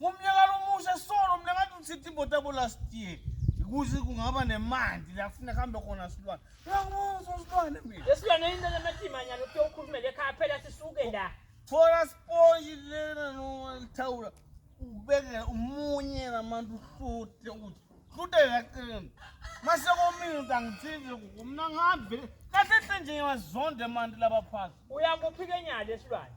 Ngomnyaka lomusha solo mina ngathi uthitha imoto yabo last year. Kuze kungaba nemandi la kufuneka kuhambe khona silwane. Uyangibuzwa silwane mina. Lesilwane into lamathimanyana uthi ukhulumele ekhaya phela sisuke la. Thola sponge lena noma lithawula. Ubeke umunye namantu uhlute ukuthi hlute la qini. Mase komile ukuthi angithinze kuku mina ngihambe. Kahle hle nje ngiyazonda manje laba phansi. Uyakuphikenyala lesilwane.